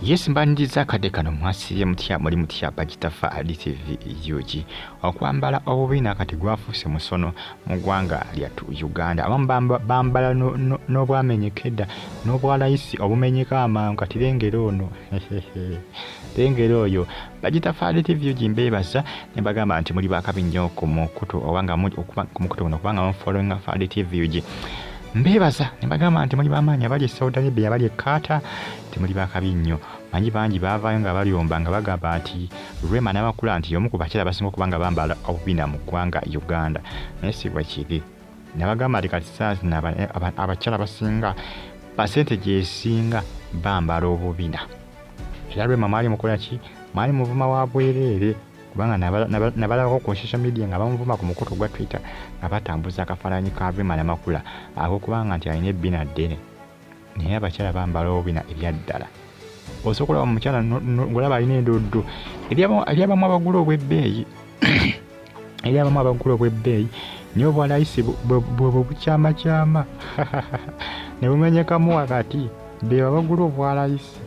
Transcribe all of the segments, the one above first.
Yes mbaniriza akadde kano mwasiibye mutya muli mutya bakitafa adtv ug okwambala obubi nakati gwafuuse musono mu ggwanga lyattu uganda abamu bambala n'obwamenyeka edda n'obwalayisi obumenyeka amangu kati lengera ono lengera oyo bagitafaali tv ugi mbeebaza ne bagamba nti muli bakabi nnyo ku mukutu oba nga ku mukutu guno kubanga mufollowinga faali tv ugi mbeebaza ne bagamba nti muli bamaanyi abali e saudi arabia abali e kaata nti muli bakabi nnyo manyi bangi baavaayo nga balyomba nga bagamba nti rema n'amakula nti y'omu ku bakyala basinga okuba nga bambala obubina mu ggwanga uganda naye si bwe kiri nabagamba nti kati saazina abakyala basinga pasente gyesinga bambala obubina era lwema mwali mukola ki mwali muvuma wa bwereere kubanga nabalabako ku social media nga bamuvuma ku mukutu gwa twitter nga batambuza akafaananyi ka rwema namakula akokubanga nti alina ebbina ddene naye abakyala bambala obubina ebyaddala osobola okulaba mukyala ngolaba alina endoddo ebyabamu abagula obwebbeeyi eri abamu abagula obw'ebbeeyi naye obwa layisi bwebwo bukyamakyama ne bumenyekamu wakati beebo abagula obwa layisi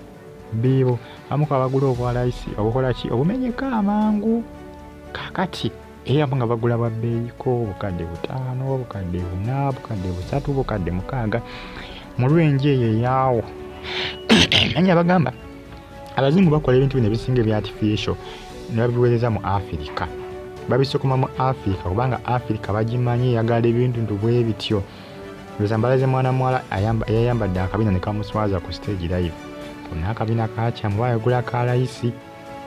beebo amuku abagula obwa layisi obukola ki obumenyeka amangu kakati era abamu nga bagula bwa bbeeyiko obukadde butaano obukadde buna obukadde busatu obukadde mukaaga mu lwenje eyo eyaawo nanye abagamba abazungu bakola ebintu bino ebisinga ebya artificial ne babiweereza mu afirika babisukuma mu afirika kubanga afirika bagimanyi eyagala ebintu ntu bwe bityo luzambalaze mwana muwala yayambadde akabina ne kamuswaza ku stage live kona akabina kakyamu bayagula ka layisi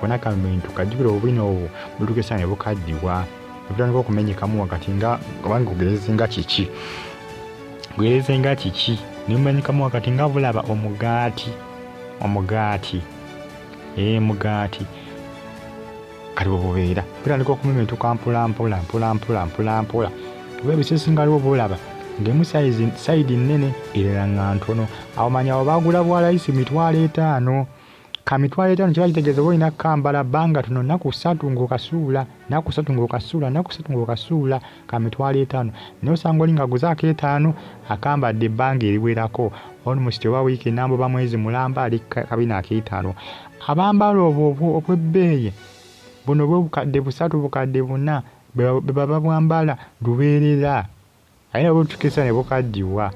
kona kabintu kajjukira obubina obwo butukisa ne bukaddiwa ebitandika okumenyekamu wakati nga obanga kugereze nga kiki kugereze nga kiki ne mumenyekamu wakati nga bulaba omugaati omugaati ee eh, mugaati kati bwebubeera bitandika okumemetuka mpolampola mpolampola mpolampola oba ebisesingaliwo bulaba ngemu sayidi nnene erera nga ntono awo manya awo bagula bwalayisi mitwalo etaano ka mitwalo etaano kiba kitegeeza oba olina kambala bbanga tono naku satu ngaokasuula naku satu ngaokasuula naku satu ngaokasuula kamitwalo etaano naye osanga oli ngaguze akeetaano akambadde ebbanga eriwerako olmusti oba wiiki nambo ba mwezi mulamba ali kabina akeetaano abambala obwo obwebbeeyi buno bwe bukadde busatu bukadde buna bebaba bwambala lubeerera aye nabwo butukisa ne bukaddiwa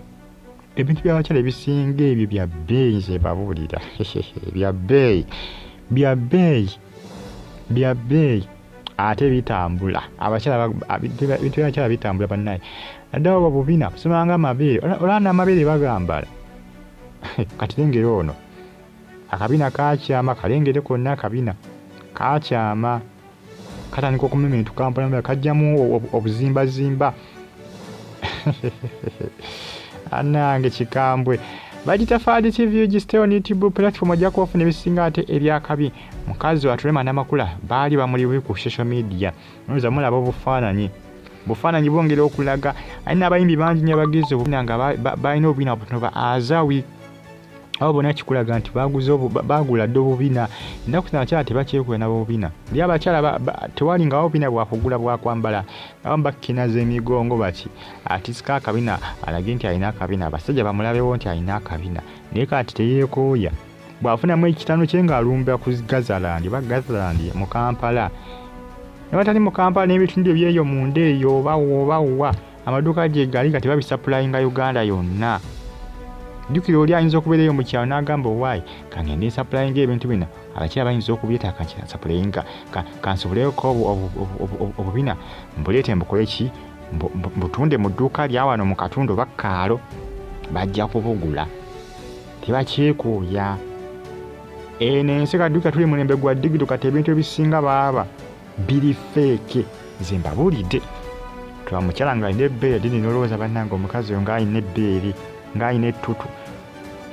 ebintu byabakyala ebisinga ebyo bya bbeeyi nze babuulira bya bbeeyi bya bbeeyi bya bbeeyi ate bitambula abakyalabityalakyala bitambula bannaye addawo ba bubina kusomanga amabeere olanda amabeere bagambala kati lengere ono akabina kakyama kalengere konna akabina kakyama katandika okumementu kampala kajjamu obuzimbazimba anange kikambwe bagita faadi tv gisitewo ne youtube platform ojja kuba ofuna ebisinga ate ebyakabi mukazi watulema namakula baali bamuli bubi ku social media noza mulaba obufaananyi bufaananyi bwongera okulaga alina abayimbi bangi nyo abagize obubina nga balina obubina butono ba azawi abo bona kikulaga nti baguze bagula dde obubina ennaku zino abakyala tebakyekola nabobubina li abakyala tewali nga obubina bwakugula bwakwambala abamu bakkinaza emigongo baki atisika akabina alage nti alina akabina abasajja bamulabewo nti alina akabina naye kati teyekooya bwafunamu ekitano kye ng'alumba ku gazalandi oba gazalandi mu kampala nebatali mu kampala n'ebitundu ebyeyo munda eyo oba oba owa amaduuka gye gali nga tebabisapulayinga uganda yonna jjukira oli ayinza okubeera eyo mu kyalo n'agamba owaayi kangende nsapulayinga ebintu bino abakyala bayinza okubyetaaga nti nsapulayinga kansoboleeko obubina mbuleete mbukole ki mbutunde mu dduuka lyawano mu katundu oba kaalo bajja kubugula tebakyekuuya eno ensi kaduuka tuli mulembe gwa digito kati ebintu ebisinga baaba biri feeke nze mbabuulidde tuba mukyala nga alina ebbeere dini nolowooza bannange omukazi oyo ng'alina ebbeere ng'alina ettutu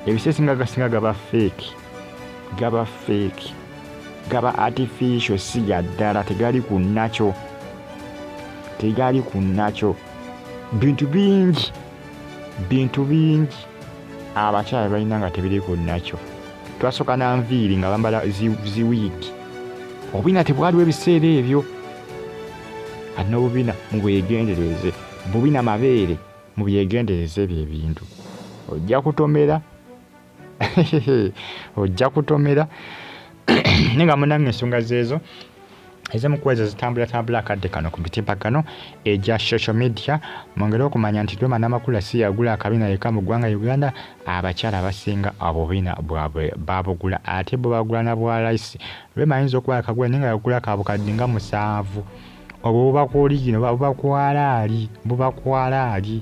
ebisesi nga gasinga gaba feeki gaba feeki gaba artificial si ga ddala tegali ku nakyo tegali ku nakyo bintu bingi bintu bingi abakyala balina nga tebiriko nakyo twasoka nanviiri nga bambala ziwiigi obubina tebwaliwo ebiseera ebyo ati nobubina mubwegendereze bubina mabeere mubyegendereze ebyo ebintu ojja kutomera ojja kutomera naye nga munange ensonga zeezo ezimu kuwezo zitambulatambula akadde kano ku mitimbagano egya eh, social media mwongere okumanya nti rwema namakula si yagula akabina yeka mu ggwanga uganda abakyala basinga obubina bwabwe babugula ate bwe bagula na bwa layisi rwema ayinza okuba akagula naye nga yagula kabukadde nga musanvu obwo bubakuoligino bubakwalaali bubakwalaali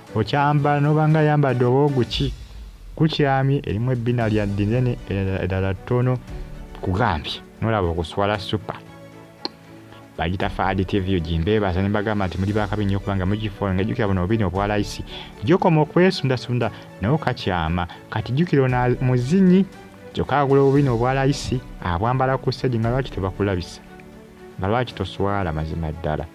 Okyambala noba nga ayambadde oba oguki gukyamye erimu ebbina lya dinene eddala ttono kugambye nolaba okuswala supa bagita faadi tv ogimbeebaza nembagamba nti muli bakabi nnyo kubanga mugifoola nga jjukira buno obubina obwa layisi gyokoma okwesundasunda nawo kakyama kati jjukira ona muzinyi kyokka agula obubina obwa layisi abwambala ku segi nga lwaki tebakulabisa nga lwaki toswala mazima ddala